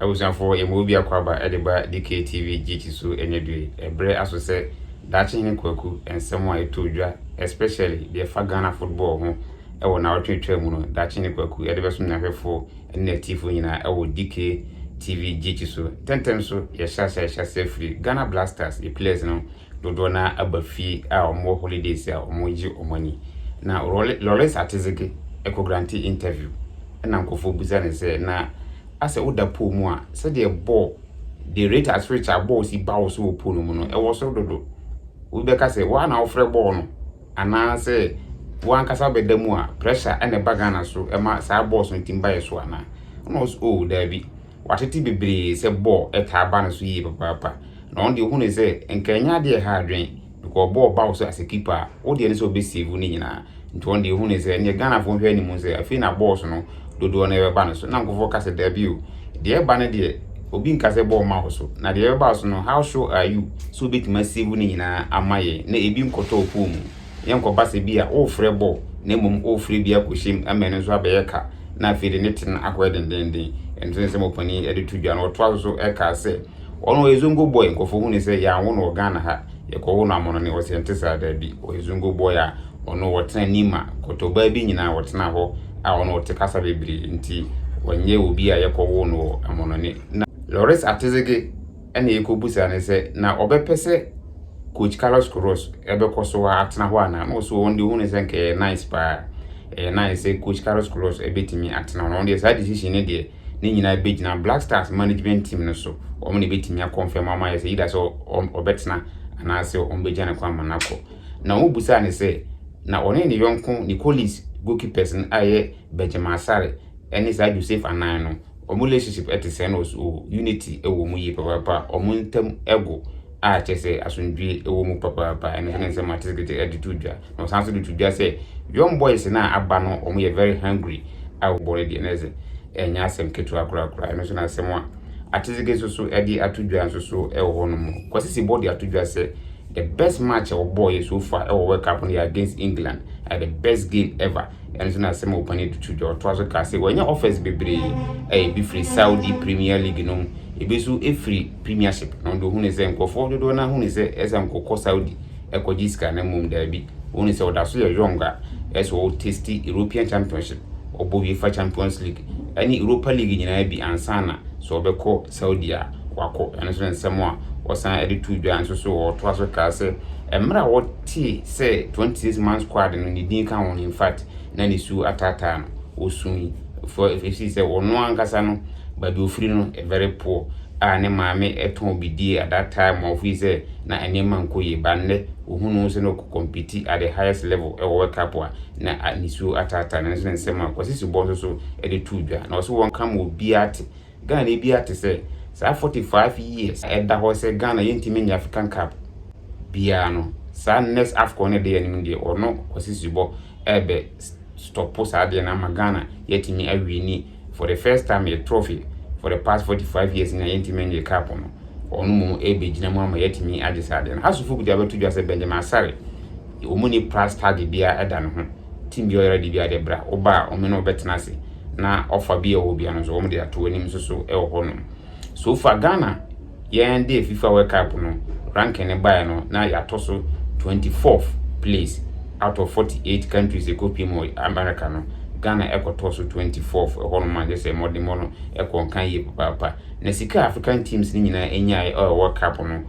Abusuafoɔ yɛma obi akwaaba de ba DKTV GT so ɛnyɛ due. Ɛbrɛ aso sɛ daakye hene kwaku nsɛm a ɛtoo dwa especially deɛ ɛfa Ghana football ho ɛwɔ naawɔtwe twaa mu no daakye hene kwaku ɛde bɛsom n'ahwɛfoɔ ɛne n'atiifoɔ nyinaa ɛwɔ DKTV GT so. Tɛntɛm so yɛhyɛ ase a yɛhyɛ ase afiri Ghana Blasters yɛ players no dodoɔ no ara aba fie a wɔwɔ holidays a wɔregye wɔn ani. Na Loris Atezege kɔ grante interview na nkurɔfoɔ bisa no sɛ na asɛ woda pool mu a sɛdeɛ bɔɔl the rate at which a bɔɔl si ba wo so wɔ pool no mu no ɛwɔ soro dodo wobɛka sɛ woa na wofrɛ bɔɔl no anaasɛ woankasa bɛda mu a pressure na ɛba Ghana so ɛma saa bɔɔls no tim ba yɛ so anaa? Ɔno ɔs o oh, daabi Watete bebree sɛ bɔɔ taa ba no so yie papaapa, na ɔno deɛ ɔhunuu sɛ nka ɛnyɛ adeɛ a ɛha adwene, because ɔbɔɔ ba wo so as a keeper a, wo deɛ ne sɛ ɔbɛsave ne nyinaa. Nti ɔno deɛ ɔhunuu sɛ ɛneɛ Ghanafoɔ nhwɛ anim sɛ afei na balls no dodoɔ no ɛbɛba no so, na nkorɔfoɔ ka sɛ daabi o, deɛ ɛba no deɛ obi nka sɛ bɔɔ mma wo so, na deɛ ɛbɛba wo so no how sure are you sɛ wobɛtumi asave ne nyinaa ama yɛn na ɛbi nkɔtɔ wo phone mu? Yɛnkɔba sɛ bi a worefrɛ bɔɔl na mmom worefrɛ bi akɔhyɛ mu ama ɛno nso abɛyɛ ka na afei de ne te no akɔyɛ dendennden. Ɛno nso ne nsɛm a ɔpanin de to dwa no. Ɔtoa so so kaa sɛ, Ɔno ɔyɛ zongo bɔɔy, nkurɔfoɔ hu no sɛ yɛanwo no wɔ Ghana ha, yɛkɔwo no Amonone. Ɔse ɛnte saa, daabi, ɔyɛ zongo bɔɔy a ɔno ɔtena Nima, Kɔtɔbaa bi nyinaa ɔtena hɔ a ɔno ɔte kasa bebree nti ɔnyɛ obi a yɛkɔwoo no wɔ Amonone. Na Loris Atezege ɛna yɛkɔbu saa ne sɛ, na ɔbɛpɛ sɛ coach Carlos Queiroz ɛbɛkɔ so atena hɔ anaa? Na ɔso wɔn deɛ ɔhu ne sɛ nka ɛyɛ nice paa, ɛyɛ nice sɛ coach Carlos Queiroz ɛbɛtumi atena hɔ. Na wɔn deɛ saa decision ne deɛ ne nyinaa bɛgyina Black Stars management team no so, wɔn na ɛbɛtumi akɔnfɛm ama yɛ sɛ either sɛ ɔbɛtena anaasɛ wɔn bɛgya ne kwan ma no akɔ. Na wɔn busaa ne sɛ, na ɔne ne yɔnko Nicolis goalkeepers no a ɛyɛ Benjamin Asare ɛne saa Joseph Anan no, Ɔmo relationship ɛte sɛn na ɔso oo unity ɛwɔ ɔmo yie papaapa ɔmo ntɛm ɛgo a kyɛ sɛ asomdwie ɛwɔ mu papaapa ɛno nso ne nsɛm a Tizikiti ɛde to dwa na ɔsan so de to dwa sɛ young boys no a aba no ɔmo yɛ very hungry a wobɔ no deɛ na ɛsɛ ɛnyɛ asɛm ketewa korakora ɛno nso na asɛm a Atiziki nso so ɛde ato dwa nso so ɛwɔ hɔ nom Kwasi Sebɔ de ato dwa sɛ the best match a ɔbɔɔyɛ so far ɛwɔ World Cup no yɛ against England ɛyɛ the best game ever Ɛno nti na Asɛm a Ɔpani Dutu gya ɔtoa so ka sɛ wanya offers bebree a ebi firi Saudi Premier League no mu, ebi nso firi Premiership na ɔde ohunuu sɛ nkurɔfoɔ dodoɔ no ara hunu sɛ ɛsɛ sɛ nkɔkɔ Saudi kɔgye sika na mmom daabi ɔhunu sɛ ɔda so yɛ young a ɛsɛ sɛ ɔ taste European Championship, ɔbɔ UEFA Champions League ne Europa League nyinaa bi ansa na sɛ ɔbɛkɔ Saudi a wakɔ ɛno nso ne nsɛm a wɔsan de too dwa nso so wɔtoa so kaa sɛ mmerɛ a wɔtee sɛ 26 man squad no ne din ka ho no infact na ne su ataataa no wɔsui for ɛfisii sɛ wɔno ankasa no baabi ɔfiri no very poor a ne maame ɛtɔn bidie at that time ma ɔfiri sɛ na nneɛma nkɔ yie ba nnɛ ɔhunu sɛ no kɔmpiti at the highest level ɛwɔ World Cup a na ne su ataataa no nso ne nsɛm a Kwasi Subɔ nso so de too dwa na ɔso wɔn ka ma obiara te Ghana biara te sɛ saa 45 years a ɛda hɔ sɛ Ghana yɛntumi nyɛ African Cup biara no, saa next Afcon no a ɛda yɛn anim no deɛ, ɔno Kwasi Subɔ ɛrebɛ stɔpo saa adeɛ no ama Ghana yɛatumi awini for the first time yɛ trophy for the past 45 years no a yɛntumi nyɛ cup no, ɔno mmom ɛrebɛgyina mu ama yɛatumi agye saa adeɛ no. Hasufo kuta abɛto dwa sɛ Benjamin Asare Yɛ wɔn ni pra study bia ɛda ne ho team bia ɔyara di bia deɛ bra wo ba a wɔn ne wo bɛtena ase na ɔfa bia ɔwɔ bia no nso wɔn de ato w'anim nso so ɛwɔ hɔ nom so fa Ghana yɛn de FIFA World Cup no ranking ne baeɛ no na yɛatɔ so 24th place out of 48 countries ɛkɔpie mu America no Ghana ɛkɔtɔɔ so 24th ɛhɔ nom a kyɛ sɛ mmɔdenmɔ no ɛkɔ nkan yie papaapa na sika African teams ne nyinaa ɛnyaeɛ ɛwɔ World Cup no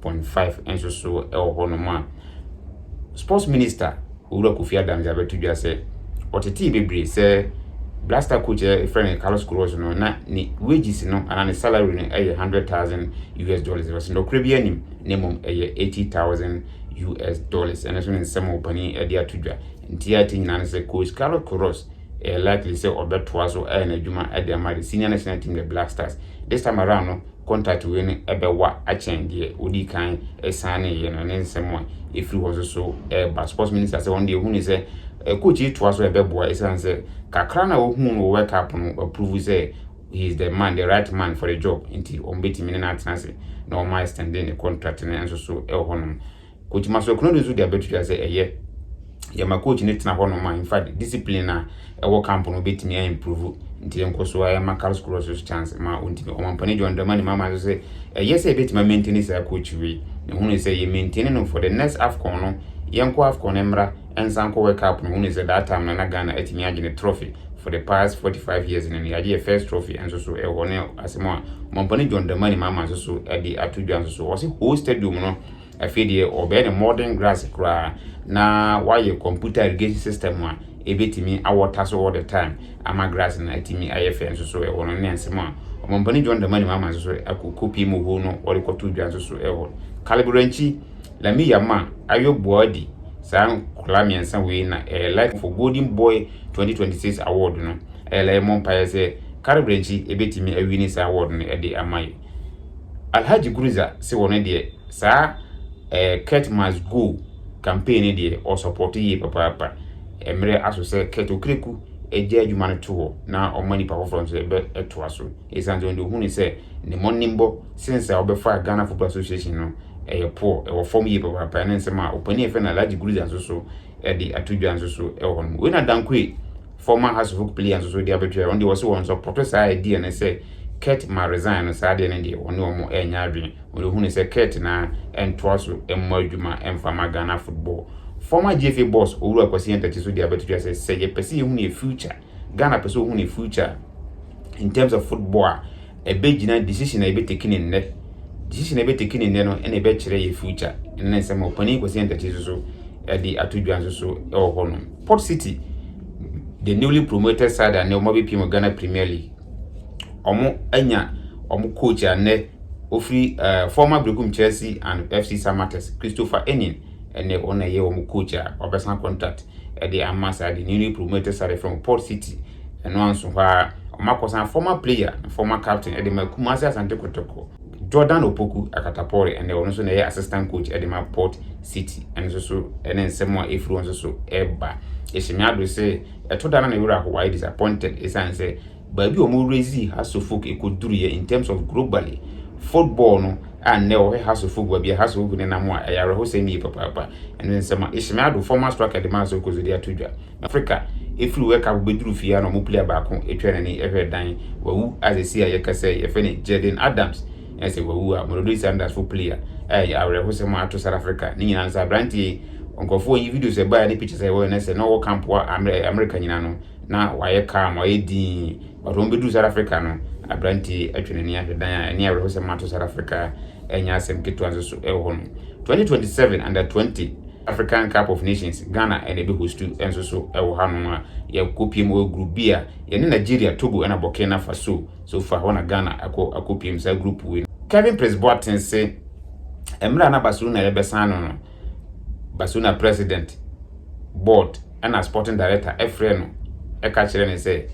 point five nso so wɔ hɔnom a Sports Minister Owura Kofi Adams abɛto dwa sɛ ɔtetee bebree sɛ Blaster coach a yɛfrɛ no Carlos Queiroz no na ne wages no anaa ne salary no yɛ hundred thousand US dollars ɔsɛ nɔkorɛ bi anim na mmom ɛyɛ eighty thousand US dollars ɛno nso ne nsɛm a ɔpanin de ato dwa nti a ɛte nyinaa no sɛ coach Carlos Queiroz ɛyɛ likely sɛ ɔbɛtoa so ayɛ n'adwuma de ama the senior national team the Black Stars this time around no Contact wei no ɛbɛwa akyɛn deɛ ɔdii kan ɛsigneyɛ no ne nsɛm a ɛfiri hɔ nso so ɛreba. Sports Minister sɛ wɔn deɛ ɛhu ne sɛ coach yi toa so a ɛbɛboa ɛsiane sɛ kakra no a wɔhuu no wɔ World Cup no wɔaprovu sɛ he is the man, the right man for the job nti wɔbɛtumi ne no atena ase na wɔn a extendee ne contract no nso so ɛwɔ hɔnom. Coach Maxwell Konadu nso de abɛto dwa sɛ ɛyɛ yɛ ma coach no tena hɔnom a in fact discipline a ɛwɔ camp no bɛtumi a improve nti yɛ nkɔ so a ɛma Karlskrona nso so chance ma ɔntumi ɔmampani John Dramani Mahama nso sɛ ɛyɛ sɛ ɛbɛtumi a maintain saa coach wei na hunu sɛ yɛ maintain no for the next AFCON no yɛnkɔ AFCON no mmra ɛnsan kɔ World Cup no hunu sɛ that time no na Ghana atumi agye ne trophy for the past 45 years no yɛagye yɛ first trophy nso so ɛwɔ ne asɛm a ɔmampani John Dramani Mahama nso so ɛde ato dwa nso so ɔse whole stadium no Afei deɛ wɔbɛyɛ no modern grass koraa na wɔayɛ computer irrigation system a ɛbɛtumi awɔta so all the time ama grass no atumi ayɛ fɛ nso so ɛhɔ no ne nsɛm a Ɔmampanin John Dramani Mahama nso so akɔ kɔpie mu hɔ no wɔde kɔto dwa nso so ɛhɔ Kaliburankyi Lami Yama Ayo Boadi saa nkwadaa mmiɛnsa wei na ɛyɛ life for Golden Boy 2026 award no ɛyɛ mmɔ mpaeɛ sɛ Kaliburankyi ɛbɛtumi awini saa award no ɛde ama yɛ. Alhaji Gurza se wɔno deɛ saa eh Kurt must go campaign no deɛ ɔsɔpɔto yie papaapa. Mmerɛ aso sɛ Kurt Okraku gya adwuma no to hɔ na ɔma nipa foforɔ nso ɛbɛ ɛtoa so. Ɛsiane sɛ wɔn deɛ ɔhunu sɛ ne mmɔnenbɔ sense a ɔbɛfaa Ghana Football Association no ɛyɛ poor, ɛwɔ fam yie papaapa. Ɛne nsɛm a ɔpanin a yɛfrɛ no Alhaji Gurza nso so de ato dwa nso so wɔ hɔ nom. Wei na Dankoe, former House of Hope player nso so de abɛto dwa. Ɔno deɛ ɔse wɔn nso pɔtɔ saa idea no sɛ Kurt ma resign no saa deɛ no deɛ wɔne wɔn ɛnyɛ adwene. Wɔde hu no sɛ Kurt na ɛntoa so mmɔ adwuma ɛmfa ma Ghana football. Former GFA boss Owura Kwasi Antakyi nso de abɛto dwa sɛ sɛ yɛpɛ sɛ yɛhu yɛn future Ghana pɛ sɛ ɔhu ne future in terms of football a ɛbɛgyina decision a yɛbɛteki ne nnɛ decision a yɛbɛteki ne nnɛ no ɛna ɛbɛkyerɛ yɛ future ɛno ne nsɛm a ɔpanin Kwasi Ntakyi nso so ɛde ato dwa nso so ɛwɔ hɔ nom Port City the newly promoted side a nnɛ wɔn abɛpie mu Ghana Premier League wɔn anya wɔn coach a nnɛ ofiri uh, former Brekum Chelsea and FC Samattes Christopher Enin ɛne wɔn a ɛyɛ wɔn coach a wabɛsan contract ɛde ama saa de newly promoted side from Port City ɛno anso hɔ a wɔn akɔsan former player former captain ɛde ma Kumasi Asante Kotoko Jordan Opoku Akatapɔre ɛnna ɔno nso na ɛyɛ assistant coach ɛde ma Port City ɛno nso so ɛne nsɛm a efiri wɔn nso so ɛba ehyɛmi ado sɛ ɛto da na ne werɛ ahowa ayɛ disappointed esan sɛ baabi a wɔn raisee Hasselhoug ɛkɔduru yɛ in terms of globally football no a nnɛ wɔhwɛ Hasselhoug baabi a Hasselhoug ne nam a ɛyɛ awerɛhosɛm yie papaapa ɛne nsɛm a Ismail Ado former striker de maa sɛ ɔkɔ so de ato dwa Africa ɛfiri World Cup bɛduru fie a na wɔn player baako atwa n'ani ɛhwɛ dan wawu a sɛsi a yɛka sɛ yɛfɛ ne Jaden Adams ɛsɛ wawu a Mamelodi Sundowns fo player a ɛyɛ awerɛhosɛm a ato South Africa ne nyinaa no sɛ aberanteɛ yi nkurɔfoɔ yi videos ɛbaeɛ ne pictures a ɛwɔ yɛ no sɛ na ɔwɔ camp wɔ America nyinaa no na wɔayɛ calm, wɔayɛ dinn. But wɔn bɛduru South Africa no, aberanteɛ yi atwe n'ani ahwɛ dan a ɛne awerɛhosɛm ato South Africa ɛnyɛ asɛm ketewa nso so ɛwɔ hɔ no. 2027 Under 20 African Cup of Nations, Ghana ɛna ɛbɛ hostu nso so ɛwɔ hanom a yɛkɔpiem wɔ group B a yɛne Nigeria, Togo ɛna Burkina Faso. So far hɔ na Ghana akɔ akɔpiem saa group wei no. Kevin Prince Boateng se mmerɛ a na Barcelona yɛbɛsan no no, Barcelona President, Board, Ɛnna Sporting Director frɛɛ no ka kyerɛɛ no sɛ,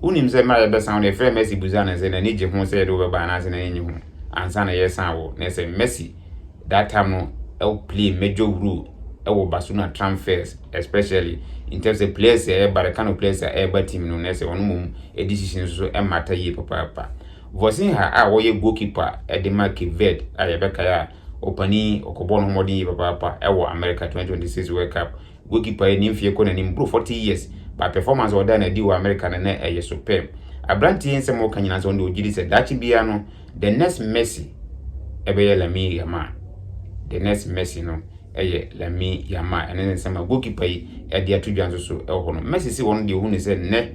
Wonim sɛ mmerɛ a yɛbɛsan wo no, yɛfrɛɛ Mercy busaa no sɛ n'ani gye ho sɛ yɛde wo bɛba anaasɛ n'ani nnye ho ansa na yɛresan wo, na sɛ Mercy that time no play major role wɔ Barcelona transfers especially in terms sɛ players a ɛreba, the kind of players a ɛreba team no, na sɛ ɔno mmom decision no nso mmata yie papaapa. Vozinha a ɔyɛ goalkeeper de ma Cape Verde a yɛbɛkae a ɔpanin ɔkɔbɔɔ no ho mmɔden yie papaapa wɔ America 2026 World Cup Goalkeeper yi ne mfeɛ kɔ n'anim boro 40 years but performance a ɔdaa no adi wɔ America no na ɛyɛ superb. Aberanteɛ yi nsɛm a ɔka nyinaa nso ɔno deɛ ɔgye di sɛ daakye biara no the next Messi ɛbɛyɛ Lamine Yamal. The next Messi no ɛyɛ Lamine Yamal. Ɛno ne nsɛm a goalkeeper yi ɛde ato dwa nso so ɛwɔ hɔ no. Messi se ɔno deɛ ɔhu no sɛ nnɛ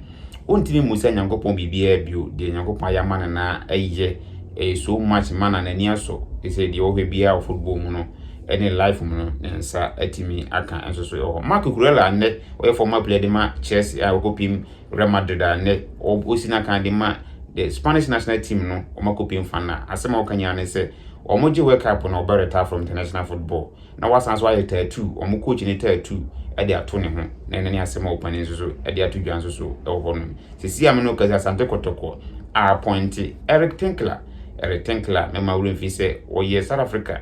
ɔntumi mmusa Nyankopɔn biribiara bio, deɛ Nyankopɔn ayɛ ama no na ɛyɛ ɛyɛ so much ma na n'ani asɔ. Ɛsɛ deɛ ɔhwɛ biara wɔ football mu no ne life mu no ne nsa atumi aka nso so wɔ hɔ. Marc Cucurella a nnɛ ɔyɛ former player de ma Chelsea a ɔkɔpim Real Madrid a nnɛ ɔsi n'akan de ma the Spanish national team no wɔn akɔpim fa no a asɛm a ɔka nyinaa ne sɛ wɔn gye World Cup no ɔbɛ retire from international football na wasan nso ayɛ tattoo wɔn coach ne tattoo de ato ne ho na ɛno ne asɛm a ɔpanin nso so de ato dwa nso so wɔ hɔ nom sisi a me no kasi Asante Kɔtɔkɔ a appointe Eric Tinkler Eric Tinkler mɛma wura mfi sɛ ɔyɛ South Africa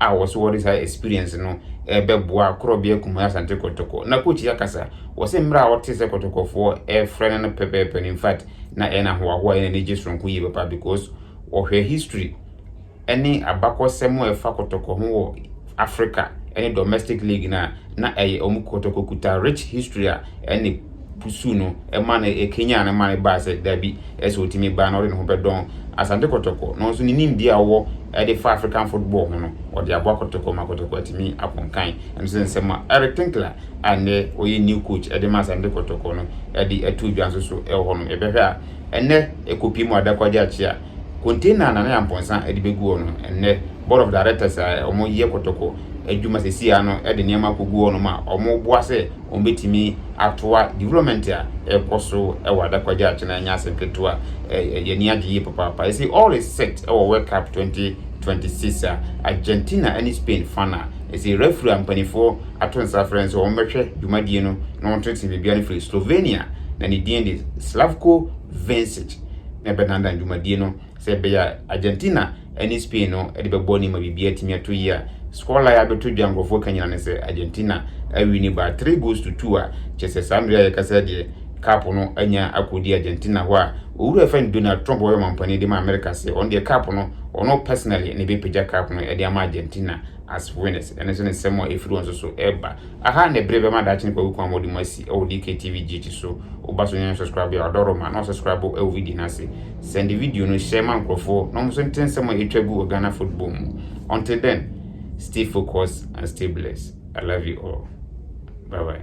a wɔse wɔde saa experience no bɛboa Korɔbea Kumaa Asante Kɔtɔkɔ. Na coach yi akasa, wɔse mmerɛ a ɔte sɛ Kɔtɔkɔfoɔ refrɛ no no pɛpɛɛpɛ no in fact na ɛyɛ no ahoahoa ɛyɛ no anigye soronko yie papa because ɔhwɛ history ɛne abakɔsɛm a ɛfa Kɔtɔkɔ ho wɔ Africa ɛne domestic league no a na ɛyɛ wɔn Kɔtɔkɔ kuta rich history a ɛne pusuw no ma no kanyan no ma no baa sɛ dabi sɛ otumi ba na ɔde ne ho bɛdɔn Asante Kɔtɔkɔ na ɔnso ne nimdeɛ a ɔwɔ de fa African football ho no ɔde aboa Kɔtɔkɔ ma Kɔtɔkɔ atumi akɔ nkan ɛno nso ne nsɛm a Eric Tinkler a nnɛ ɔyɛ new coach de ma Asante Kɔtɔkɔ no de ato dwa nso so wɔ hɔ no yɛbɛhwɛ a ɛnnɛ ɛkɔpie mu ada kwagye akye a container a Nana Yampɔnsa de bɛgu hɔ no ɛnnɛ board of directors a wɔyɛ Kɔtɔkɔ adwuma sɛsi a no de nneɛma akɔgu hɔ no ma wɔboa sɛ wɔbɛtumi atoa development a ɛrekɔ so wɔ Adakwagya a kyena ɛnyɛ asɛm ketewa, yɛn ani agye yie papaapa. Ɛsei all is set wɔ World Cup 2026 a Argentina ɛne Spain fa no a, ɛsei referee a mpaninfoɔ ato nsa afrɛ no sɛ wɔn bɛhwɛ dwumadie no na wɔn tene tene biribiara no firi Slovenia na ne din de Slavko Vincic na ɛbɛdandan dwumadie no. Sɛ ɛbɛyɛ a Argentina ne Spain no de bɛbɔ ne ma biribiara atumi atɔ yie a, score line a abɛto dwa a nkurɔfoɔ ka nyinaa ne sɛ Argentina awi ne baa three goals to two a kyerɛ sɛ saa mmerɛ a yɛkasa deɛ cup no anya akɔdi Argentina hɔ a owura ɛfɛ no Donald Trump ɔyɛ ɔmampanin de ma America sɛ ɔno deɛ cup no ɔno personally na ɛbɛpagya cup no de ama Argentina as winners ɛno nso ne nsɛm a ɛfiri wɔn nso so ɛba Aha na bere bɛma daakye no kwaku kwan ma ɔde mo asi wɔ DKTV GH so woba so nyɛ subscribe a ɔdɔ roma na subscribe wɔ video no ase send video no share ma nkurɔfoɔ na wɔn nso nte nsɛm a ɛtwa gu wɔ Ghana football mu until then stay focused and stay blessed I love you all bye bye